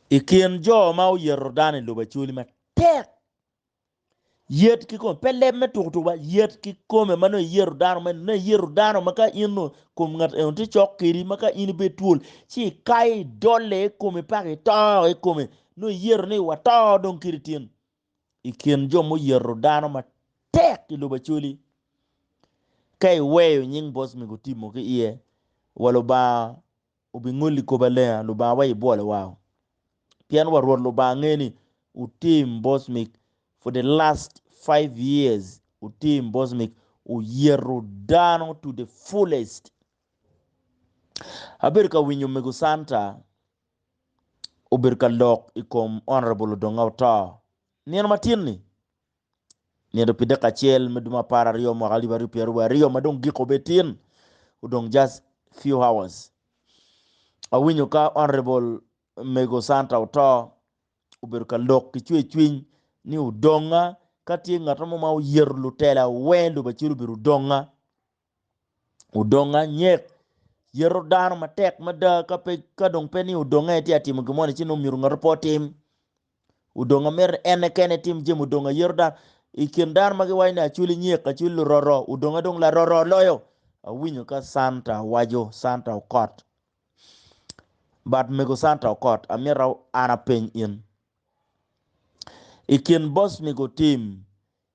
I kin jo ma oyeto dano i lobo acoli matek, yet ki kome, pe leb me tuku tuku ba, yet ki kome ma nongo iyeto dano meno, nongo iyeto dano ma ka in nongo kom ngat eno tye cok kedi ma ka in ibedo twol ci ikayo idole i kome paka ito i kome, nongo iyeto ni wato dong kede tin. I kin jo muyeto dano matek i lobo acoli, ka iweyo nying boss me gutimo ki iye, wa Lubanga Wubingoli kop alenga Lubangawa i bwolo wa o, pien wa Rwot Lubanga ngeyo ni wutim bos mig for the last five years, wutim bos mig, wuyeto dano to the fullest. Abedo ka winyo Mego Santa obedo ka lok i kom Honourable Odonga Oto nino matin ni. Nino pi dek acel me dwe ma apar aryo mwaka alip aryo pyeraryo wa aryo ma dong gik obe tin odong just few hours awinyo ka honorable mego Santa oto obedo ka lok ki cwe cwiny ni odonga ka tye ngat mo ma oyero lutela wer lubaculo obedo odonga odonga anyek yeto dano matek mada ka dong pe ni odonge tye ka timo gin moni ci nongo myero ngate pe otim odonga mito ni ene kene tim jami odonga yeto dano i kin dano ma giwaco ni acwili nyek acwili luroro odonga dong laroro loyo awinyo ka canta waco canta okot but mego canta okot amito an apeny in i kin boss mego tim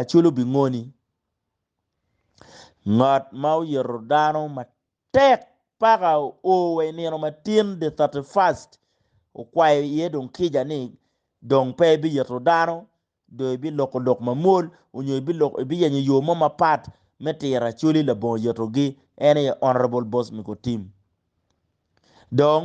Aculu bingoni. Ngat ma oyito dano matek paka oo wa i nino matin the thirty first okwayo iye dong kica ni dong pe ibiyito dano dong ibiloko lok mamwol onyo ibiloko ibiyenyo yo mo mapat me tiro Acholi labongo yitogi en aye Honourable Bosmico Tim. Dong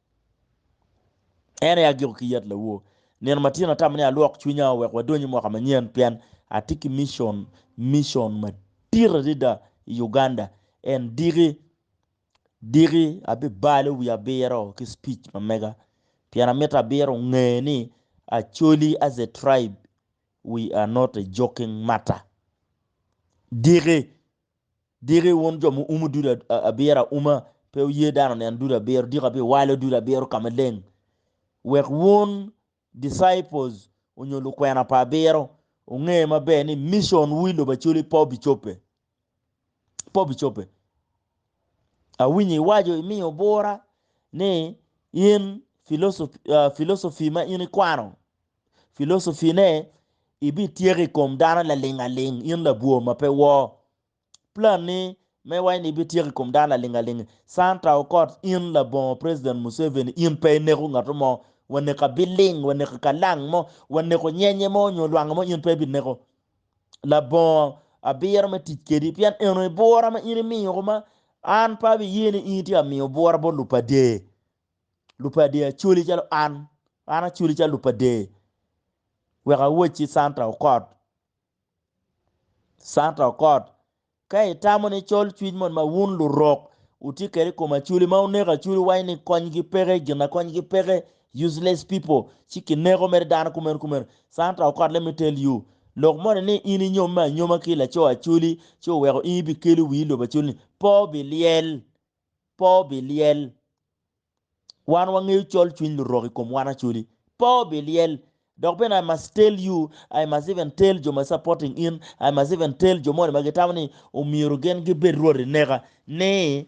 En aye agiko ki yat lawor. Nino matino atamo ni alwok cwinya wek wadony i mwaka manyen pien atye ki micon, micon madit adada i Uganda. En diki diki abibalo wi abiro ki speech ma mega pien amito abiro onge ni Acholi as a tribe we are not a joking matter. Diki Diki wun jo muumo dudu abiro auma, pe wuye dano onen dudu abiro, diki abiwalo dudu abiro ka maleng, wek wun, disciples, onyo lukwena pa abiro, wunge maber ni mission wu i lobo Acholi pe obicobbe. Pe obicobbe. Awinyo iwaco, imiyo bura ni in philosophy, uh, philosophy ma in ikwano, filosofine, ibityeko i kom dano laling aling, in labwor ma pe wor. Planni me waci ni ibityeko i kom dano laling aling, Santa Okot, in labongo President Museveni, in pe ineko ngato mo, waneko abiling, waneko kalang mo, waneko nyenye mo nyo lwanga mo in pe ibineko. Labongo abiro me tic kedi pien eno aye bwora ma in imiyo kuma an pe abiye ni in itye ka miyo bwora bot lupader. Lupadee acoli calo an, an acoli calo lupadee wek awacci Santa Okot, Santa Okot, ka itamo ni col cwiny mon ma wun lurok wutye kwede i kom acoli ma oneko acoli waci ni konygi peke, gin na konygi peke, useless people, ci kineko mere dano kumeno kumeno. Santa Okot, let me tell you, lok moni ni in inyomme anyoma ki laco acoli ci oweko in ibikelo wii i lobo acoli-ni, pe obilyel. Pe obilyel. Wan wangeyo col cwiny lurok i kom wan acoli. Pe obilyel. Dok bene I must tell you, I must even tell jo ma supporting in, I must even tell jo moni ma gitamo ni omyero gin gibed rwoti neka ni,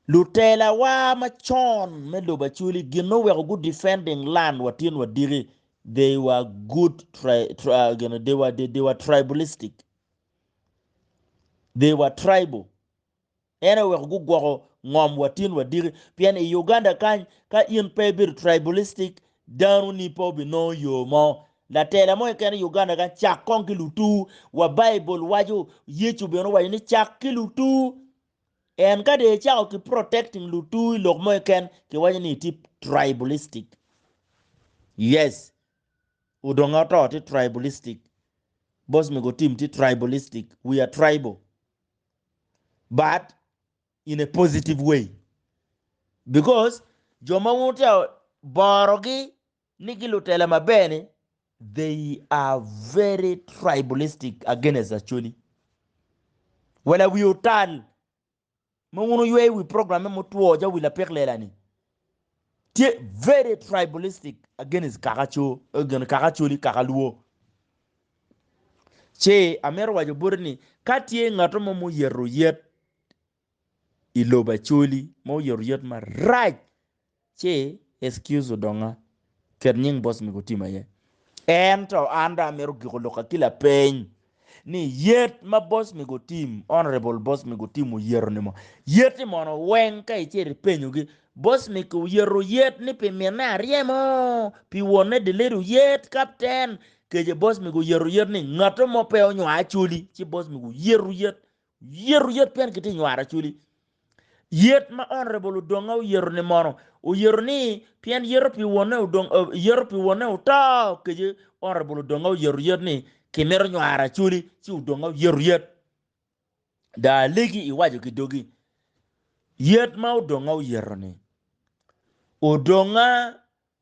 Lutelawa macon me lobo acoli gin oweko gu defending land wa tin wa diki, they were good tri, tri, uh, gin, they were, they, they were tribalistic. They were tribal. En aye oweko gugwoko ngom wa tin wa diki pien i Uganda kany ka in pe ibedo tribalistic dano ni pe obinongo yo mo. Latela mo keken i Uganda kany cak kong ki lutu wa Bible waco Yecu bene owaco ni cak ki lutu en ka dong icako ki protecting lutu i lok mo keken ki waco ni itye tribalistic. Yes odongo oto tye tribalistic, boss me go team tye tribalistic, we are tribal. but in a positive way because jo ma wute borogi ni ki lutela maber ni they are very tribalistic against Acholi. Wala wi otal ma wun oywe wi program me mutwo ja wi lapik lela ni. tye very tribalistic against kaka co against kaka coli kaka luo ce amito waco boti ni ka tye ngato mo ma oyeto yet i lobo acoli ma oyeto yet marac ce excuse odonga Ket nying boss me gutima aye. Ento an dong amito giko lokka ki lapeny ni yet ma boss me gutim, honorable boss me gutim oyeto ni mo, yet ni mono weng ka icito ipenyo gi boss me ki oyeto yet ni pi minne aryemo, pi wonne delete oyet captain, kece boss me guyeto yet ni ngato mo pe onywaa acholi ci boss me guyeto yet Yeto yet pien kitye nywaro acwili. Yet ma honorable Odonga oyeto ni mono oyeto ni pien yeto pi wonne odong eh, yeto pi wonne oto kece honorable Odonga oyeto yet ni kimito nywaro acwili ci Odonga oyeto yet. Da alegi iwaco ki dogi yet ma Odonga oyeto ni Odonga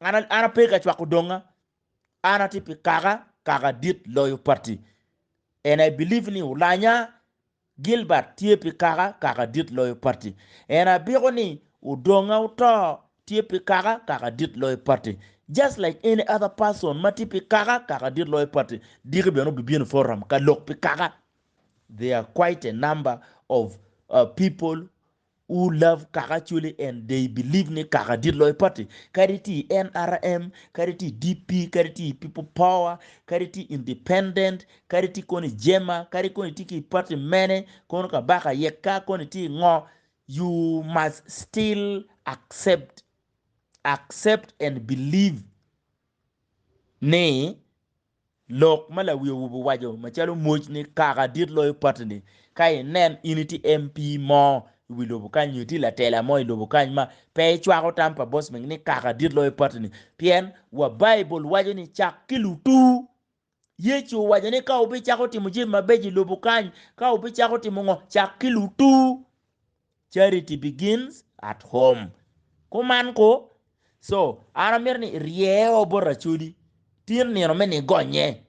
An, an ape ka cwako donga, an atye pi kaka, kaka dit loyo pati. And I believe ni Olanya Gilbert tye pi kaka, kaka dit loyo pati. And abiko ni Odonga Otoo tye pi kaka, kaka dit loyo pati. Just like any other person ma tye pi kaka, kaka dit loyo pati, diki bene obi bino forum ka lok pi kaka. There are quite a number of uh, people U love kaka actually and they believe ni kaka dit loyo party kadi tye i nrm kadi tye i DP kadi tye i people power kadi tye independent kadi tye kono i jema kadi kono itye ki i party mene kono kabaka yeka kono itye i ngo u must still accept accept and believe ni Lok ma lawi owubo waco macalo moc ni kaka dit loyo pati ni ka i nen in i ti MP mo i wi lobo kany nyo i ti latela mo i lobo kany ma pe i cwako tam pa Bosming ni kaka dit loyo pati ni pien wa Baibul waco ni cak ki lutu. Yecu owaco ni ka wubi cako timo jami mabeco i lobo kany ka wubi cako timo ngo cak ki lutu. Charity begins at home. Kuman ko. So, an amito ni irye o bot Racodi. Tin nino me ni gonye.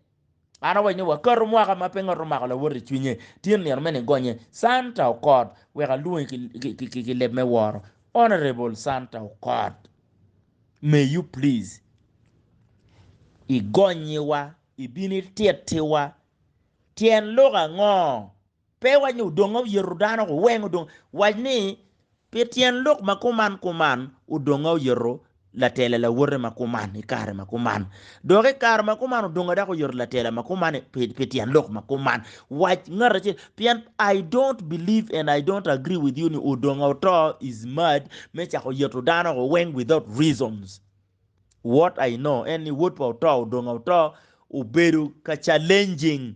An awaco ni wakato mwaka ma pe ngat omako lawot i cwinye. Tin nino me ni gonye. Santa Okot, wek alwongi ki, ki, ki, ki, ki leb me woro. Honourable Santa Okot, may you please igonyiwa, ibin itittiwa. Tyen lok ango Pe wac ni odong oyeto dano, weng odong. Wac ni, Pi tyen lok ma kuman kuman, odonga oyeto latela lawote ma kuman i kare ma kuman. Dok i kare ma kuman odonga dako oyeto latela ma kuman pi, pi tyen lok ma kuman. Wac ngat acel, pien I don't believe and I don't agree with you ni odonga oto is mad me cako yeto dano ko weng without reasons. What I know en ni wod pa oto odonga oto obedo ka challenging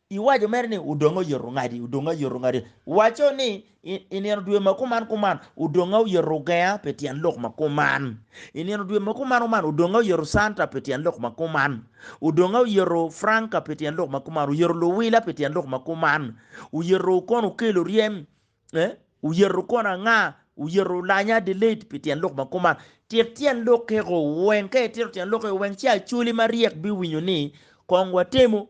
Iwaco mere ni, Odonga oyeto ongadi, odonga oyeto ongadi. Waco ni, I nino dwe ma kuman kuman, odonga oyeto ogenga pi tyen lok ma kuman. I nino dwe ma kuman kuman, odonga oyeto canta pi tyen lok ma kuman. Odonga oyeto franca pi tyen lok ma kuman, oyeto luwila pi tyen lok ma kuman. Oyeto okono okelo ryem, eh? Oyeto okono anga, oyeto lanya Adelaide pi tyen lok ma kuman. Tit tyen lok keko weng, ka itito tyen lok keko weng ci Acholi maryek biwinyo ni kong watemo.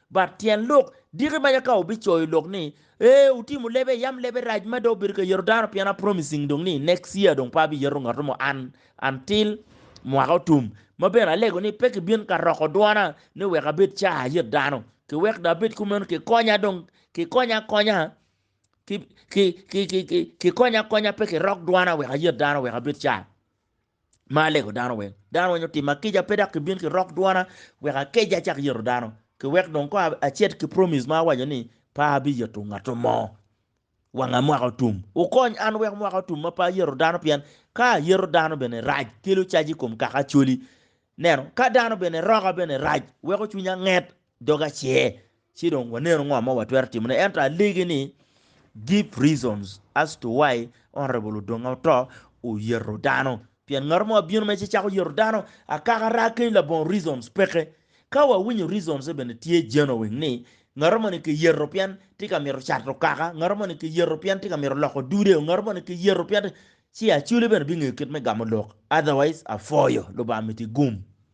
But tyen lok, Diki maja ka wubicoyo lok ni, Ee, wutimu lebe, yam lebe rac mada obedo ka yeto dano pien a promising dong ni next year dong pe abi yeto ngat mo an until mwaka otum. Ma bene alego ni pe kibin ka roko dwona ni wek abed ca ayet dano. Ki wek dong abed kumeno ki konya dong ki konya akonya ki ki ki ki ki konya akonya pe ki rok dwona wek ayet dano wek abed ca. ma alego dano weng. Dano weng otima kica pe dok kibin ki rok dwana wek akeja acak yeto dano. Ki wek dong ko acit ki promise ma awaco ni pe abi yeto ngato mo wanga mwaka otum. Wukony an wek mwaka otum ma pe ayeto dano pien ka ayeto dano bene rac kelo caji ikom kaka acholi. Neno, ka dano bene roka bene rac weko cwinya nget dog acer, ci dong wanenu ngo ma watwero timone. Ento alegi ni give reasons as to why Honourable Odonga Otoo oyeto dano. Pien ngato mo abino mere ci cako yeto dano akaka raa ki labongo reasons peke. Ka wawinyo reasons ne bene tye genuine ni ngato mo ni kiyeto pien tye ka mito cato kaka, ngato mo ni kiyeto pien tye ka mito loko dude, ngato mo ni kiyeto pien tye, ci Acholi bene bingeyo kit me gamo lok. Otherwise, apwoyo. Lubanga miti gum.